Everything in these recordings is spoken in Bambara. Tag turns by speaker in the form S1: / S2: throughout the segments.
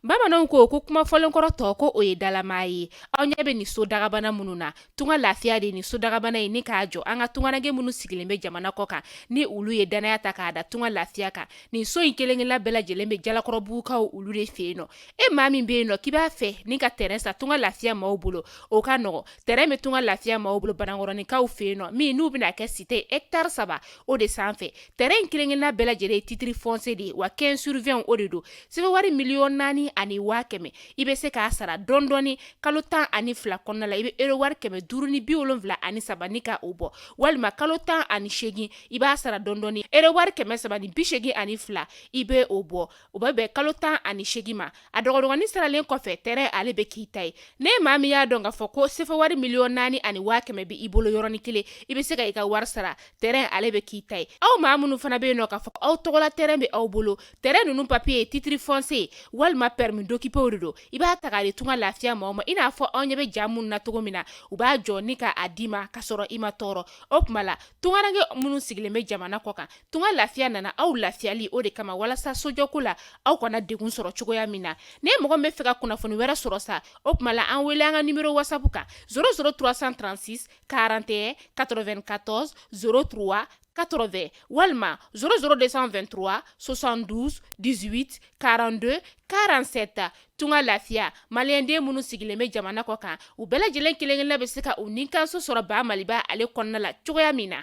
S1: bamananw ko ko kuma fɔlen kɔrɔ tɔ ko o ye dalama ye aw ɲɛ bɛ nin so dagabana minnu na Tunga lafiya de ni so dagabana ye ni k'a jɔ an ka tunganage minnu sigilen bɛ jamana kɔ kan ni olu ye dannaya ta k'a da Tunga lafiya kan nin so in kelenkelenna bɛɛ lajɛlen bɛ jalakɔrɔbugukaw olu de fɛ yen nɔ e maa min bɛ yen nɔ k'i b'a fɛ ni ka tɛrɛn san Tunga lafiya maaw bolo o ka nɔgɔ tɛrɛn bɛ Tunga lafiya maaw bolo Banankɔrɔninkaw fɛ yen nɔ min n'u bɛna kɛ site etari saba o de sanfɛ tɛrɛn in kelenkelenna bɛɛ lajɛlen ye titiri fɔnsiye de ye wa kɛnzi suru wɛn o de don sefa wari miliyɔn naani ani waa kɛmɛ i bɛ se k'a sara dɔndɔɔni kalo tan ani fila kɔnɔna la i bɛ ero wari kɛmɛ duuru ni bi wolonwula ani saba ni k' o bɔ walima kalo tan ani seegin i b'a sara dɔndɔɔni ero wari kɛmɛ saba ni bi seegin ani fila i bɛ o bɔ o bɛ bɛn kalo tan ani seegin ma a dɔgɔdɔgɔnin saralen kɔfɛ tɛrɛn ale bɛ k'i ta ye n'e maa min y'a dɔn k'a fɔ ko sefa wari miliyɔn naani ani waa kɛmɛ bɛ i bolo yɔrɔnin kelen i bɛ se ka i ka wari sara tɛrɛn ale bɛ k'i ta ye aw maa minnu fana bɛ yen nɔ k'a fɔ aw tɔgɔla tɛrɛn bɛ aw bolo tɛrɛn ninnu papiye ye titiri fɔnsiye walima pɛrimi dokipe de don i b'a ta k'a di Tunga lafiya maaw ma i n'a fɔ aw ɲɛ bɛ ja minnu na cogo min na u b'a jɔ ni k'a d'i ma ka sɔrɔ i ma tɔɔrɔ o tuma la tunkarankɛ minnu sigilen bɛ jamana kɔ kan Tunga lafiya nana aw lafiyali o de kama walasa sojɔko la aw kana degun sɔrɔ cogoya min na ni mɔgɔ min bɛ fɛ ka kunnafoni wɛrɛ sɔrɔ sa o tuma la an wele an ka nimɔrɔ wasapu kan zéro zéro trois cent trente-six quarante et un quatre-vingt-quatorze zéro trois quatre-vingts walima zéro zéro deux cent vingt-trois soixante-douze dix-huit quarante-deux quarante-sept tunga lafiya maliyɛnden minnu sigilen bɛ jamana kɔ kan u bɛɛ lajɛlen kelenkelenna bɛ se ka u ninkanso sɔrɔ ba maliba ale kɔnɔna la cogoya min na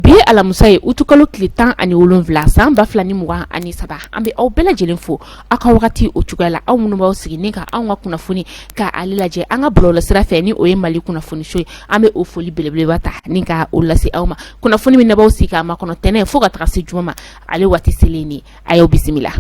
S1: Bi ye alamisa ye utukalo tile tan ani wolonwula san ba fila ni mugan ani saba an bɛ aw bɛɛ lajɛlen fo aw ka wagati o cogoya la aw minnu b'aw sigi ni ka anw ka kunnafoni ka ale lajɛ an ka bɔlɔlɔ sira fɛ ni o ye mali kunnafoniso ye an bɛ o foli belebeleba ta ni ka o lase aw ma kunnafoni min n'aw b'aw sigi k'a makɔnɔ tɛnɛn fo ka taga se juma ma ale waati selen ni a y'aw bisimila.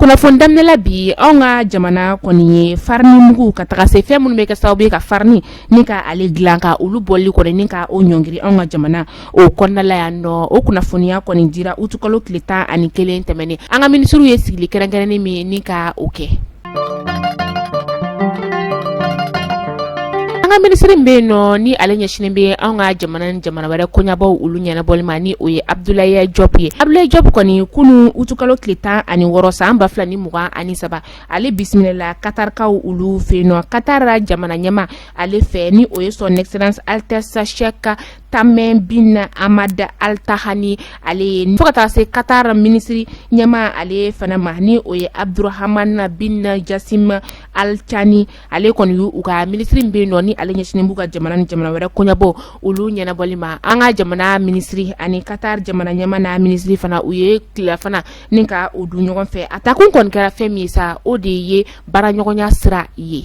S1: kunnafoni daminɛ la bi anw ka jamana kɔni ye farini mugu ka taga se fɛn minnu bɛ kɛ sababu ye ka farini ni ka ale dilan ka olu bɔli kɔni ni ka o ɲɔngiri anw ka jamana o kɔnɔnala yan nɔ o kunnafoniya kɔni dira utukalo tile tan ani kelen tɛmɛnen an ka minisiriw ye sigili kɛrɛnkɛrɛnnen min ni ka o kɛ an ka minisiri bɛ yen nɔ ni ale ɲɛsinen bɛ an ka jamana ni jamana wɛrɛ koɲabaw olu ɲɛnabɔli ma ni o ye abudulayi jɔp ye abudulayi jɔp kɔni kunun utukalo tile tan ani wɔɔrɔ san ba fila ni mugan ani saba ale bisimilala katarikaw olu fɛ yen nɔ katara jamana ɲɛmaa ale fɛ ni o ye sɔn ɛkisɛlansi alitɛsi Sayɛki tamɛ bin amad alitahani ale ye fo ka taa se katari minisiri ɲɛmaa ale fana ma ni o ye abudurahamana bin jasim alicani ale kɔni u ka minisiri bɛ yen nɔ ni ale ɲɛsinnen b'u ka jamana ni jamana wɛrɛ koɲabɔ olu ɲɛnabɔli ma an ka jamana minisiri ani katari jamana ɲɛmaa n'a minisiri fana u ye tilafana ni ka o dun ɲɔgɔn fɛ a takun kɔni kɛra fɛn min ye sa o de ye baara ɲɔgɔnya sira ye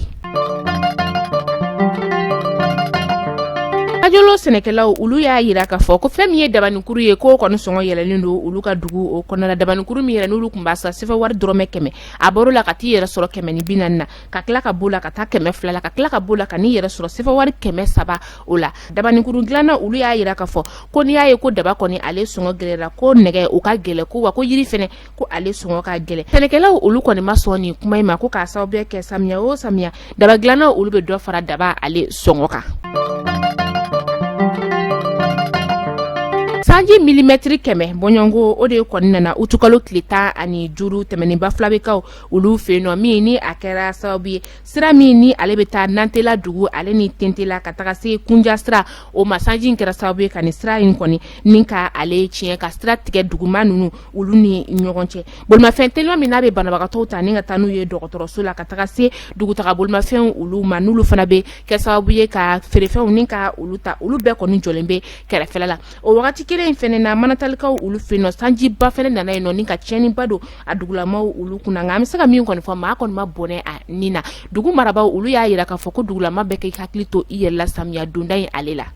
S1: ajolo sɛnɛkɛlaw olu y'a yira k'a fɔ ko fɛn min ye dabanikuru ye k'o kɔni sɔngɔ yɛlɛlen don olu ka dugu o kɔnɔna dabanikuru min yɛrɛ n'olu tun b'a san sefa wari dɔrɔmɛ kɛmɛ a bɔr'o la ka t'i yɛrɛ sɔrɔ kɛmɛ ni bi naani na ka tila ka b'o la ka taa kɛmɛ fila la ka tila ka b'o la ka n'i yɛrɛ sɔrɔ sefa wari kɛmɛ saba o la dabanikuru dilanna olu y'a yira k'a fɔ ko n'i y'a ye ko daba kɔni ale sɔngɔ gɛlɛyara ko nɛgɛ o ka gɛlɛn ko wa ko yiri fana ko ale sɔngɔ ka gɛlɛn sɛnɛkɛlaw olu kɔni ma sɔn nin kuma in ma ko k'a sababu kɛ samiya o samiya daba dilannaw olu bɛ dɔ fara daba ale sɔngɔ kan sanji milimɛtiri kɛmɛ bɔɲɔgɔnko o de ye kɔni nana utukalo tile tan ani duuru tɛmɛnen bafulabekaw olu fɛ yen nɔ min ni a kɛra sababu ye sira min ni ale bɛ taa nantela dugu ale ni tentela ka taga se kunja sira o ma sanji in kɛra sababu ye ka nin sira in kɔni ni ka ale tiɲɛ ka sira tigɛ duguma ninnu olu ni ɲɔgɔn cɛ bolimafɛn teliman min n'a bɛ banabagatɔw ta ni ka taa n'u ye dɔgɔtɔrɔso la ka taga se dugutaga bolimafɛn olu ma n'olu fana bɛ kɛ sababu ye ka feerefɛnw ni ka olu ta olu bɛɛ kɔni jɔlen bɛ kɛrɛfɛ la o wagati kelen in fana na manantalikaw olu fɛ yen nɔ sanjiba fana nana yen nɔ ni ka tiɲɛniba don a dugulamaw olu kunna nka an bɛ se ka min kɔni fɔ maa kɔni ma bɔnɛ a ni na dugu marabaaw olu y'a yira k'a fɔ ko dugulama bɛɛ ka i hakili to i yɛrɛ la samiya donda in ale la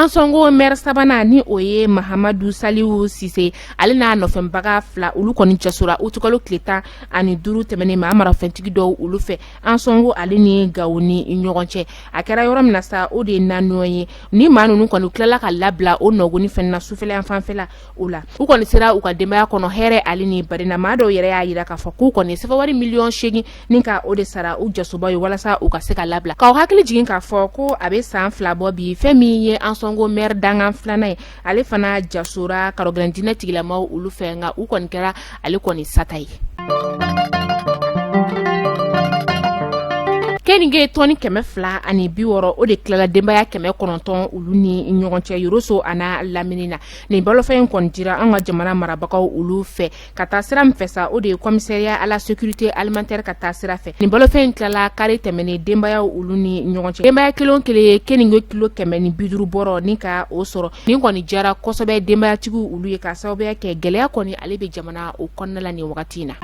S1: ansɔngo mɛri sabanan ni o ye mahamadu saliwu sise ale n'a nɔfɛnbaga fila olu kɔni jasora utukalo tile tan ani duuru tɛmɛnen maa marafɛntigi dɔw olu fɛ ansɔngo ale ni gawo ni ɲɔgɔn cɛ a kɛra yɔrɔ min na sa o de ye naɲɔgɔn ye ni maa ninnu kɔni tilala ka labila o nɔgɔni fɛnɛ na sufɛla yan fanfɛla o la u kɔni sera u ka denbaya kɔnɔ hɛrɛ ale ni barina maa dɔw yɛrɛ y'a yira k'a fɔ k'u kɔni sefa wari miliyɔn seegin ni ka o de sara u jasobaa ye walasa u ka se ka labila k'aw hakili jigin k'a fɔ ko a bɛ san fila bɔ bi fɛn min ye ansɔngo mɛri dankan filanan ye ale fana jasora karɔgɛlɛn diinɛtigilamaw olu fɛ nka u kɔni kɛra ale kɔni sata ye keninge tɔni kɛmɛ fila ani bi wɔrɔ o de tilala denbaya kɛmɛ kɔnɔntɔn olu ni ɲɔgɔn cɛ yoroso an'a lamini na nin balofɛn in kɔni dira an ka jamana marabagaw olu fɛ ka taa sira min fɛ sa o de ye commissariat à la sécurité alimentaire ka taa sira fɛ nin balofɛn in tilala kari tɛmɛnen denbaya olu ni ɲɔgɔn cɛ denbaya kelen kelen ye keninge kilo kɛmɛ ni biduru bɔrɔ ni ka o sɔrɔ nin kɔni diyara kosɛbɛ denbayatigiw olu ye k'a sababuya kɛ gɛlɛya kɔni ale bɛ jamana o kɔnɔna la nin wagati in na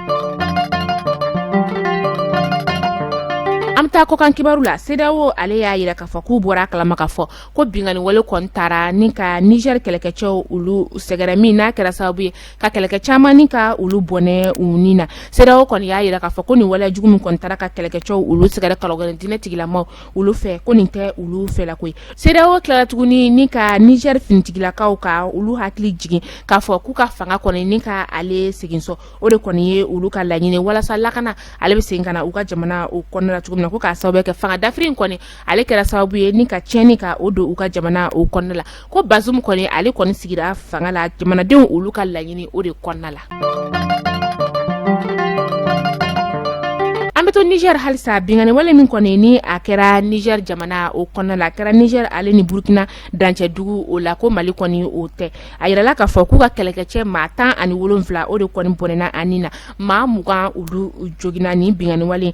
S1: an bɛ taa kɔkan kibaru la sedawo ale y'a yira k'a fɔ k'u bɔra a kalama k'a fɔ ko binkanniwale kɔni taara ni ka nizɛri kɛlɛkɛcɛw olu sɛgɛrɛ min n'a kɛra sababu ye ka kɛlɛkɛ caman ni ka olu bɔnɛ u ni na sedawo kɔni y'a yira k'a fɔ ko nin waleya jugu min kɔni taara ka kɛlɛkɛcɛw olu sɛgɛrɛ kalodinɛ tigilamaw olu fɛ ko nin tɛ olu fɛlako ye sedawo tilala tuguni ni ka nizɛri finitigilakaw ka olu hakili jigin k'a fɔ k'u ka fanga kɔni ni ka ale segin so o de kɔni ye olu ka laɲini walasa lakana ale bɛ segin ka na u ka jamana o kɔnɔna cogo min na ko k'a sababu kɛ fanga dafiri in kɔni ale kɛra sababu ye ni ka tiɲɛni ka o don u ka jamana o kɔnɔna la ko bazumu kɔni ale kɔni sigira fanga la jamanadenw olu ka laɲini o de kɔnɔna la an bɛ to nizɛri halisa binkanni wale min kɔni ni a kɛra nizɛri jamana o kɔnɔna la a kɛra nizɛri ale ni burukina dancɛdugu o la ko mali kɔni o tɛ a yirala k'a fɔ k'u ka kɛlɛkɛcɛ maa tan ani wolonwula o de kɔni bɔnɛna a ni na maa mugan olu joginna nin binkanniwale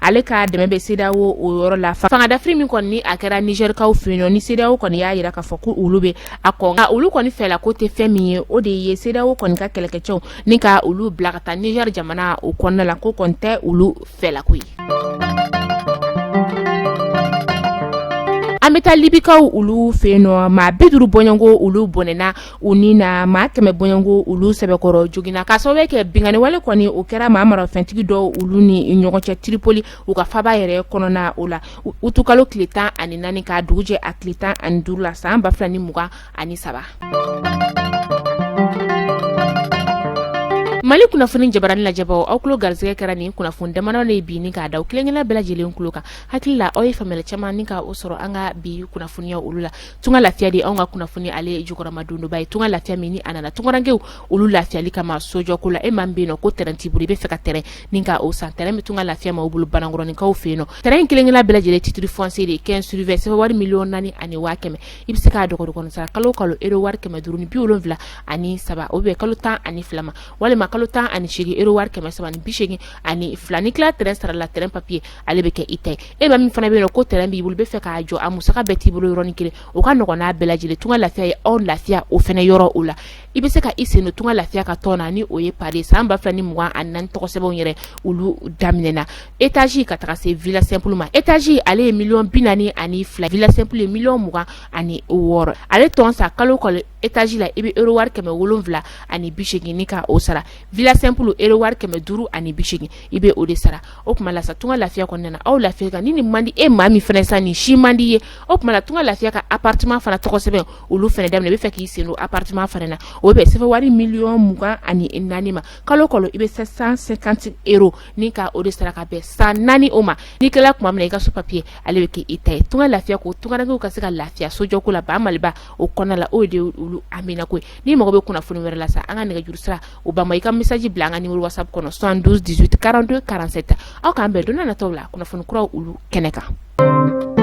S1: ale ka dɛmɛ bɛ sedawo o yɔrɔ la fangadafiri min kɔni ni a kɛra nizɛrikaw fɛ yen nɔ ni sedawo kɔni y'a yira k'a fɔ ko olu bɛ a kɔn nka olu kɔni fɛlako tɛ fɛn min ye o de ye sedawo kɔni ka kɛlɛkɛcɛw ni ka olu bila ka taa nizɛri jamana o kɔnɔna la k'o kɔni tɛ olu fɛlako ye an bɛ taa libikaw olu fɛ yen nɔ maa bi duuru bɔɲɔgɔnko olu bɔnɛna u ni na maa kɛmɛ bɔɲɔgɔnko olu sɛbɛkɔrɔ joginna k'a sababu kɛ binkanniwale kɔni o kɛra maa marafɛntigi dɔw olu ni ɲɔgɔn cɛ tiripoli u ka faaba yɛrɛ kɔnɔna o la utukalo tile tan ani naani ka dugu jɛ a tile tan ani duuru la san ba fila ni mugan ani saba mali kunnafoni jabaranin lajɛbaw aw kulo garisɛgɛ kɛra nin kunnafoni damadɔ de ye bi ni k'a da kelenkelen bɛɛ lajɛlen kulo kan hakili la aw ye faamuyali caman ni ka o sɔrɔ an ka bi kunnafoniya olu la tunga lafiya de anw ka kunnafoni ale ye jukɔrɔmadondonba ye tunga lafiya min ni a nana tungarankew olu lafiyali kama sojɔko la e maa min bɛ yen nɔ ko tɛrɛn t'i bolo i bɛ fɛ ka tɛrɛn ni ka o san tɛrɛn bɛ tunga lafiya maa o bolo banankɔrɔninkaw fɛ yen nɔ tɛrɛn kelenkelen bɛɛ lajɛlen titre foncier de quinze sur vingt sɛbɛn wari miliyɔn naani ani waa kɛmɛ i bɛ se k'a dɔgɔdɔgɔ sara kalo kalo euro wari kɛmɛ duuru ni bi wolonwula ani saba o bɛ kalo tan ani fila ma walima kalo tan ani segin euro wari kɛmɛ saba ni bisegin ani fila n'i kila tɛrɛn sara la tɛrɛn papiye ale bɛ kɛ i ta ye e maa min fana bɛ yen nɔ ko tɛrɛn b'i bolo bɛ fɛ k'a jɔ a musaka bɛɛ t'i bolo yɔrɔnin kelen o ka nɔgɔn n'a bɛɛ lajɛlen tunga lafiya ye aw lafiya o fana yɔrɔ o la i bɛ se ka i sen don tunga lafiya ka tɔn na ni o ye pari san ba fila ni mugan ani naani tɔgɔsɛbɛnw yɛrɛ olu daminɛna étage ka taga se villa simple ma étage ale ye miliyɔn bi naani ani fila villa simple ye miliyɔn mugan ani wɔɔrɔ ale tɔn sara kalo kɔnɔ etazi la i bɛ ero wari kɛmɛ wolonwula ani bi segin ka o sara villa simple ero wari kɛmɛ duuru ani bi segin i bɛ o de sara o tuma la tunga lafiya kɔnɔna aw lafiya ka ni ni mandi e maa min fana san ni si mandi ye o tuma tunga lafiya ka appartement fana tɔgɔsɛbɛn olu fana daminɛ i bɛ fɛ k'i sen don appartement fana na o bɛ sɛbɛn wari miliyɔn mugan ani naani ma kalo kɔnɔ i bɛ sept cent cinquante ero ni ka o de sara ka bɛn san naani o ma ni kɛla tuma min i ka so papiye ale bɛ k' i ta ye tunga lafiya ko tungarankew ka se ka lafiya sojɔko la ba mali o kɔnɔna la o de olu amina koyi n'i mago bɛ kunnafoni wɛrɛ la sa an ka nɛgɛjuru sira o ban i ka misaji bila an ka nimero WhatsApp kɔnɔ soixante-douze dix-huit quarante-deux quarante-sept aw k'an bɛn don nataw la kunnafoni kura olu kɛnɛ kan